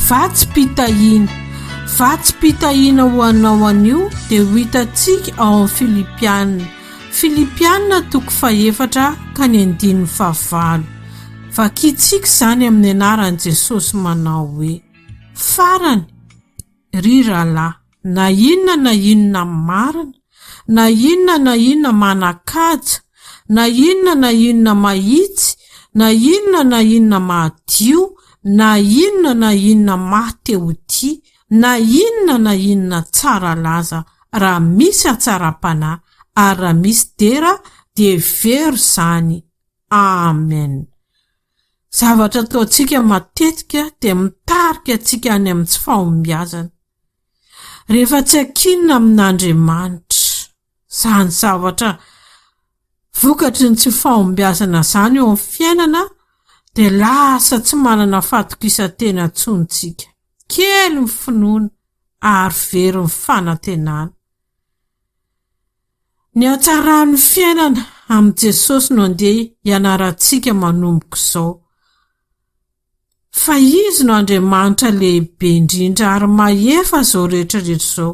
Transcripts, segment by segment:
Vatsim-pitahiana Vatsim-pitahiana ho anao anio dia ho hitantsika ao amin'ny Filipiana. Filipiana toko fahefatra ka ny andininy fahavalo. Vakintsika izany amin'ny anaran'i Jesosy manao hoe, Farany, ry rahalahy. Na inona na inona marina, na inona na inona manan-kaja, na inona na inona mahitsy, na inona na inona madio, na inona na inona maha te ho tia, na inona na inona tsara laza, raha misy hatsaram-panahy, ary raha misy dera, dia hevero izany. Amen. Zavatra ataontsika matetika dia mitarika antsika any amin'ny tsy fahombiazana. Rehefa tsy ankinina amin'Andriamanitra izany zavatra vokatry ny tsy fahombiazana izany eo amin'ny fiainana dia lasa tsy manana fahatokisan-tena intsony isika, kely ny finoana ary very ny fanantenana. Ny hatsaran'ny fiainana amin'i Jesosy no andeha hianarantsika manomboka izao. Fa Izy no Andriamanitra lehibe indrindra ary mahefa izao rehetrarehetra izao,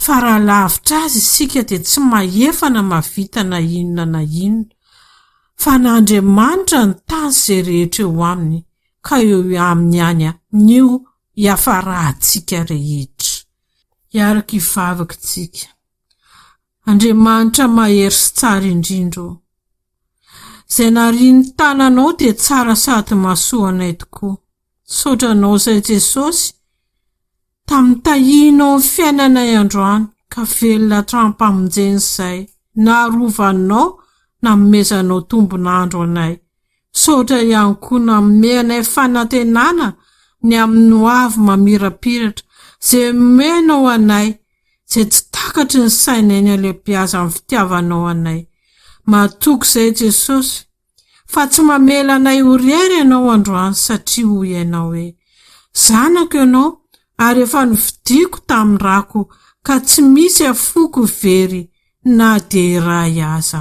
fa raha lavitra Azy isika dia tsy mahefa na mahavita na inona na inona. Fa an'Andriamanitra ny tany sy izay rehetra eo aminy, ka eo Aminy ihany no hiafarantsika rehetra. Hiaraka hivavaka isika. Andriamanitra mahery sy tsara indrindra ô! Izay narian'ny tananao dia tsara sady mahasoa anay tokoa. Misaotra anao izay Jesosy tamin'ny tahianao ny fiainanay androany ka velona hatrampamonjena izay naharovanao nanomezanao tombon'andro anay. Misaotra ihany koa nanome anay fanantenana ny amin'ny hoavy mamirapiratra izay omenao anay izay tsy takatry ny sainay ny halehibeazan'ny fitiavanao anay. Matoky izay Jesosy fa tsy mamela anay ho rery ianao androany satria hoy ianao hoe, Zanako ianao ary efa novidiako tamin'ny rako ka tsy misy afoko very na dia iray aza.